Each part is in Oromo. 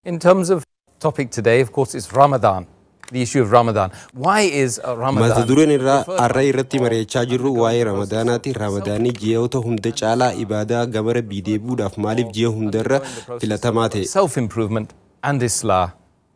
In terms of topic today, of course, it's Ramadan. The issue of Ramadan. Why is uh, Ramadan? Mata dureen irraa the first har'a irratti mari'achaa jirru waa'ee ramadaanaati. Ramadaanni ji'oota hunda caalaa ibaadaa gama rabbii deebi'uudhaaf maaliif ji'a hundarra filatamaa ta'e? Self improvement and Islah.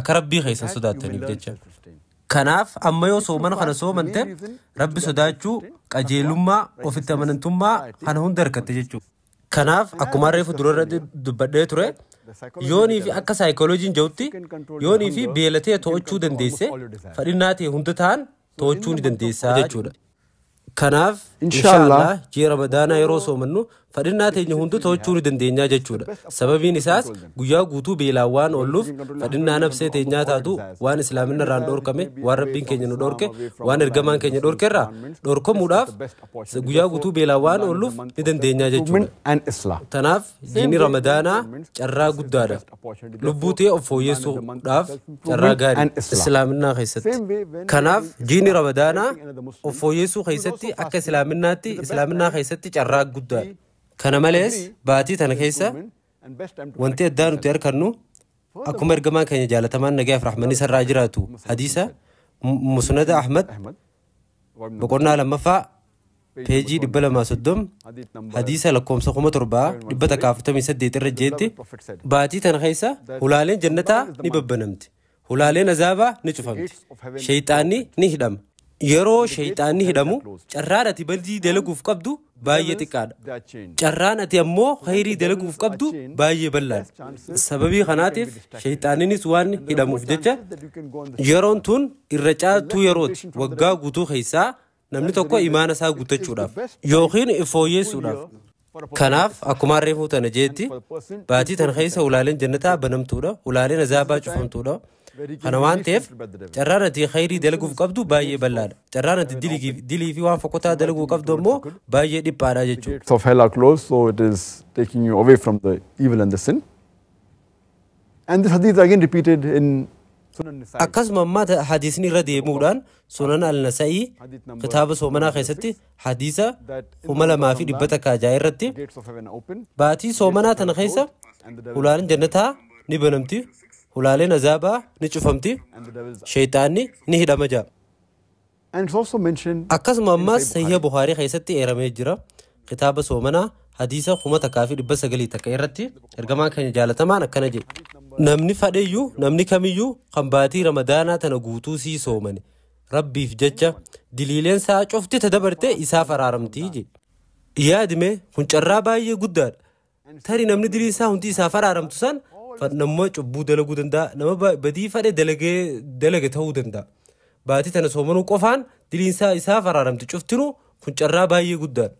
akka Rabbii keessan sodaattaniif jecha. Kanaaf amma yoo soomana kana soomante Rabbi sodaachuu, qajeelummaa, ofitti amanantummaa kana hunda argatte jechuudha. Kanaaf akkuma reefu durarratti dubbadhee ture yoonii fi akka saayikooloojiin ja'utti yoonii fi beela ta'e to'achuu dandeesse fadhinnaa ta'e hunda ta'an to'achuu ni dandeessaa jechuudha. Kanaaf inshaallah ji'a ramadaanaa yeroo soomannu fadhinnaa teenya hundu to'achuu ni dandeenyaa jechuudha. Sababiin isaas guyyaa guutuu beelaan waan oolluuf fadhinnaa nabsee teenyaa taatu waan islaaminna irraan dhorkame waan rabbiin keenya nu dhorke waan ergamaan keenya dhorke irraa dhorkamuudhaaf guyyaa guutuu beelaan waan oolluuf ni dandeenyaa jechuudha. Tanaaf jiini ramadaanaa carraa guddaadha. Lubbuu tee of fooyyessuu dhaaf carraa gaari Islaaminnaa keessatti. Kanaaf jiini Ramadaanaa of fooyyessuu keessatti akka Islaaminnaatti Islaaminnaa keessatti carraa guddaadha. Kana malees baatii tana keessa wanti addaa nuti arkannu akkuma ergamaan keenya jaalatamaan nagaaf rahmanni sarraa jiraatu hadiisa Musnada Ahmad boqonnaa lammaffaa peejii 230 hadiisa lakkoofsa 7148 irra jeetti baatii tana keessa hulaaleen jannataa ni babbanamti hulaaleen azaabaa ni cufamti sheeyxaanni ni hidhama yeroo sheeyxaanni hidhamu carraan ati badii dalaguuf qabdu baay'ee xiqqaadha carraan ati ammoo khayrii dalaguuf qabdu baay'ee bal'aadha sababii kanaatiif sheeyxaanninis waan hidhamuuf jecha yeroon tun irra caaltuu yerooti waggaa guutuu keessaa Namni tokko imaana isaa guuttachuudhaaf yookiin fooyyeessuudhaaf. Kanaaf akkuma harree fuutana jeetti baatii tan keessa ulaaleen jannataa banamtuudha ulaaleen azaabaa cufamtuudha. Kana waan ta'eef carraan ati khayrii dalaguuf qabdu baay'ee bal'aadha. Carraan ati dilii fi waan fokkotaa dalaguu qabdu ammoo baay'ee dhiphaadha jechuudha. Of hell are closed so it is taking you away from the evil and the sin. And this hadith again repeated in Sunan Nisa'i. Akkasuma ammaa ta- hadiisni irra deemuudhaan sunan al-nasa'ii Hadith number kitaaba soomanaa keessatti hadiisa that in the kuma month of lamaa fi dhibba Ramadan, takkaa ja'a irratti the gates of heaven are open. baatii soomanaa tana keessa And the devil- hulaaleen jannataa ni banamti hulaaleen azaabaa ni cufamti and the devils sheeyxaanni ni hidhama ja'a And it's also mentioned Akkasuma in ammaas Sahih Sahiha Bukhari. Bukhaarii keessatti eeramee jira. Kitaaba soomanaa hadiisa kuma takkaa fi dhibba sagalii takka irratti ergamaan keenya jaalatamaan akkana jedhe. Namni fadheyyuu namni kamiyyuu kan baatii ramadaanaa tana guutuu sii soomane rabbiif jecha diliileen isaa cufti ta dabarte isaaf araaramtii jedhe. Yaadime kun carraa baay'ee guddaadha. Tari namni diliin isaa hundi isaaf araaramtu san nama cubbuu dalaguu danda'a. Nama badii fadhe dalage ta'uu danda'a. Baatii tana soomanuu qofaan diliin isaa isaaf araaramti cuftinuu kun carraa baay'ee guddaadha.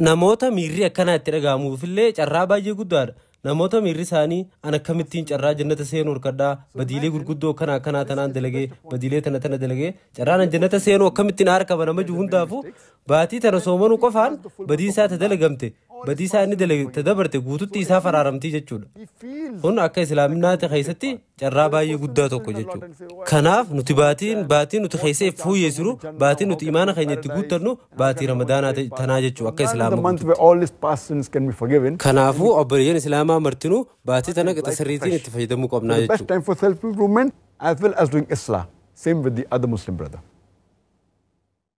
Namoota miirri akkanaa itti dhaga'amuufillee carraa baay'ee guddaadha. Namoota miirri isaanii an akkamittiin carraa jannata seenuu harkadhaa badiilee gurguddoo akkana akkanaa tanaan dalagee badiilee tana tana dalagee carraan an jannata seenuu akkamittiin harkaba nama jiru hundaafuu Baatii tana soomanuu qofaan badiin isaa ta dalagamte badii isaa inni dalage ta dabarte guututti isaaf araaramtii jechuudha. Kun akka islaaminaati keessatti carraa baay'ee guddaa tokko jechuudha. Kanaaf nuti baatiin baatii nuti keessa if fooyyessinu baatii nuti imaana keenya itti guuttannu baatii ramadaanaa ta- tanaa jechuudha akka Ramadan is the islaama month where all these past sins can be forgiven. Kanaafuu obboleeyyan islaamaa martinuu baatii tana qixa sirriitiin itti fayyadamuu qabnaa The best jechuudha. time for self-improvement as well as doing Islah. Same with the other Muslim brother.